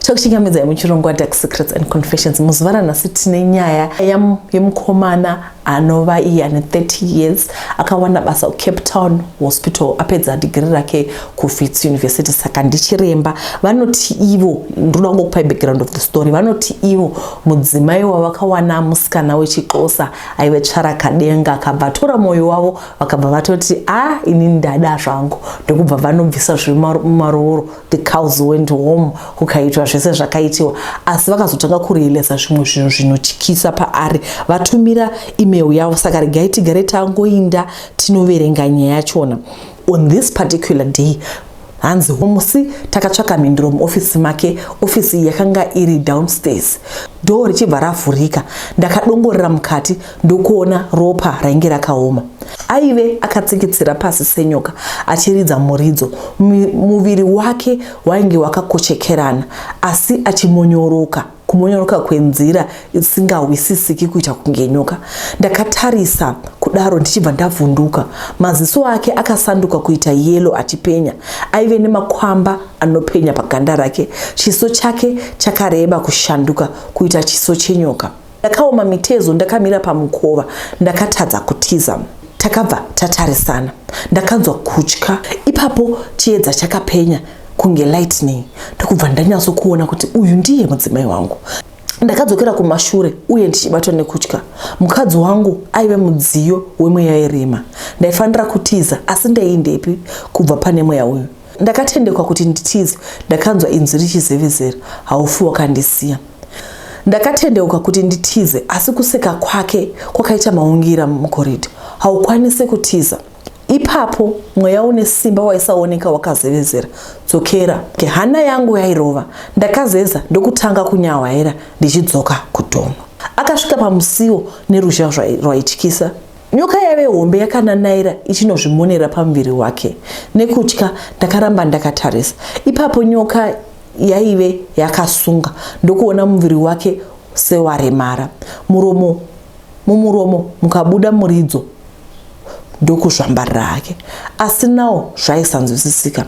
tokuchingamidza yemuchirongwa dark secrets and confessions muzuva ranhasi tine nyaya yemukomana anova iye ane 30 years akawana basa kucape town hospital apedza dhigiri rake kufits university saka ndichiremba vanoti ivo ndoda kungokupai background of the story vanoti ivo mudzimai wavakawana musikana wechixosa aive tsvarakadenga akabva atora mwoyo wavo vakabva vatoti a ah, ini ndada zvangu ndokubva vanobvisa zviri mumarooro the cows went home kukaitwa zvese zvakaitiwa asi vakazotanga kurealisa zvimwe zvinhu zvinotyisa paari vatumira email yavo saka regai tigare tangoinda tinoverenga nyaya yachona on this particular day hanzi homusi takatsvaka mhinduro muofisi make ofisi iyi yakanga iri downstairs doo richibva ravhurika ndakadongorera mukati ndokuona ropa rainge rakaoma. Aive akatsikitsira pasi senyoka achiridza muridzo. Muviri wake wainge wakakochekerana asi achimonyoroka kumonyoroka kwenzira isingahwisisiki kuita kunge nyoka. Ndakatarisa kudaro ndichibva ndavhunduka. Maziso ake akasanduka kuita yelo achipenya. Aive nemakwamba anopenya paganda rake. Chiso chake chakareba kushanduka kuita chiso chenyoka. Ndakaoma mitezo ndakamira pamukova ndakatadza kutiza. Takabva tatarisana ndakanzwa kutya ipapo chiedza chakapenya kunge lightning ndokubva ndanyatso kuona kuti uyu ndiye mudzimai wangu. Ndakadzokera kumashure uye ndichibatwa nekutya. Mukadzi wangu aive mudziyo wemweya yerima. Ndaifanira kutiza asi ndaiindepi kubva pane mweya uyu. Ndakatendekwa kuti nditize ndakanzwa inzwi richizevezera haufi wakandisiya. Ndakatendeuka kuti nditize asi kuseka kwake kwakaita maungira mukoridha. Haukwanise kutiza. Ipapo mweya une simba waisaoneka wakazevezera. Dzokera. Ke hana yangu yairova. Ndakazeza ndokutanga kunyawaira ndichidzoka kudomo. Akasvika pamusiwo neruzha rwaityisa. Nyoka yave hombe yakananaira ichinozvimonera pamuviri wake. Nekutya ndakaramba ndakatarisa. Ipapo nyoka yaive yakasunga ndokuona muviri wake sewaremara muromo mumuromo mukabuda muridzo ndokuzvambarira hake asi nawo zvaisanzwisisika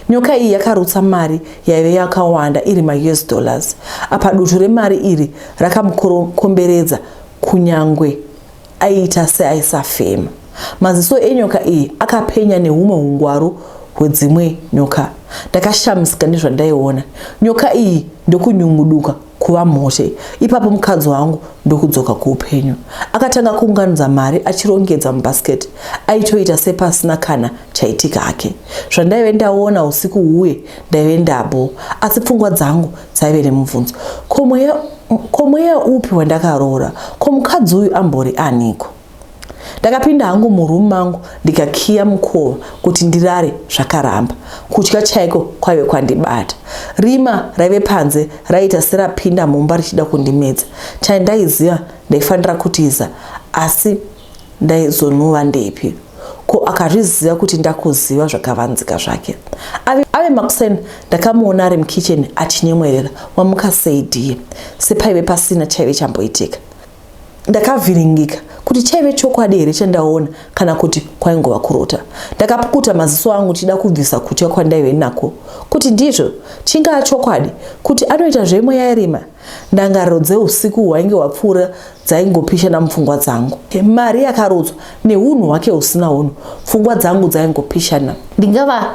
nyoka iyi yakarutsa mari yaive yakawanda iri maus dollars apa dutu remari iri rakamukomberedza kunyange aiita seaisafema. Maziso enyoka iyi akapenya nehumwe hungwaru hwedzimwe nyoka. Ndakashamisika nezvandaiona. Nyoka iyi ndokunyunguduka kuva mhote. Ipapo mukadzi wangu ndokudzoka kuupenyu. Akatanga kuunganidza mari achirongedza mubhasiketi. Aitoita sepasina kana chaitika hake. Zvandaive ndaona usiku huye ndaive ndabo. Asi pfungwa dzangu Saive nemubvunzo. Ko mweya ko mweya upi wandakaroora? Ko mukadzi uyu ambori aniko? Ndakapinda hangu muroom mangu ndikakiya mukova kuti ndirare zvakaramba. Kutya chaiko kwaive kwandibata. Rima raive panze raiita serapinda mumba richida kundimedza. Chandaiziva ndaifanira kutiza asi ndaizonhuva ndepi ko akazviziva kuti ndakuziva zvakavanzika zvake ave, ave makuseni ndakamuona ari mukitchen achinyemwerera wamuka sei diye sepaive pasina chaive chamboitika ndakavhiringika kuti chaive chokwadi here chandaona kana kuti kwaingova kurota ndakapukuta maziso angu chida kubvisa kutya kwandaive nako kuti ndizvo chingaa chokwadi kuti anoita zvemweya irima ndangariro dzeusiku hwainge hwapfuura dzaingopishana mupfungwa dzangu mari yakarodzwa neunhu hwake husina unhu pfungwa dzangu dzaingopishana ndingava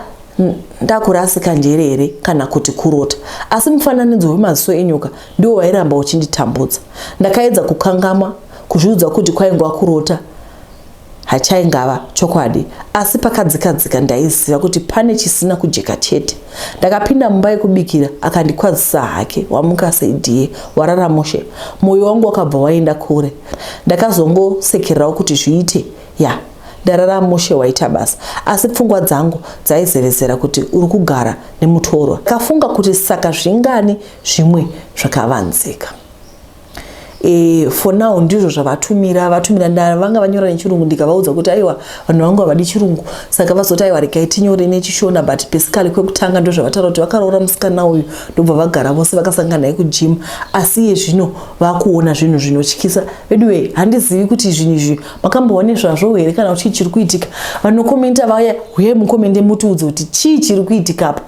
ndakurasika njere here kana kuti kurota asi mufananidzo wemaziso enyoka ndiwo wairamba uchinditambudza ndakaedza kukangamwa kuzviudza kuti kwaingwa kurota hachaingava chokwadi asi pakadzika dzika ndaiziva kuti pane chisina kujeka chete ndakapinda mumba yekubikira akandikwazisa hake wamuka seidie warara mushe mwoyo wangu wakabva waenda kure ndakazongosekererawo kuti zviite ya yeah ndarara mushe waita basa asi pfungwa dzangu dzaizevezera kuti uri kugara nemutorwa kafunga kuti saka zvingani zvimwe zvakavanzika e, for now ndizvo zvavatumira vatumira nda vanga vanyora nechirungu ndikavaudza kuti aiwa vanhu vangu havadi chirungu saka vazoti aiwa regai tinyore nechishona but basically kwekutanga ndo zvavataura kuti vakaroora musikana uyu ndobva vagara vose vakasangana naye kujim asi iye zvino vakuona zvinhu zvinotyisa veduwe handizivi kuti zvinhu izvi makamboone zvazvo here kana kuti chii chiri kuitika vanokomenta vaya huye mukomende mutiudze kuti chii chiri kuitika apa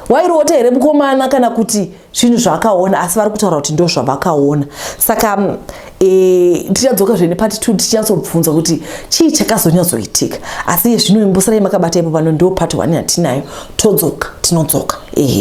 wairoota here mukomana kana kuti zvinhu zvavakaona asi vari kutaura kuti ndo zvavakaona saka mm, e, eh, tichadzoka zvene pati two tichinyatsobvunza kuti chii chakazonyatsoitika asi iye zvino imbosarai makabata ipo pano ndo pati one yatinayo todzoka tinodzoka ehe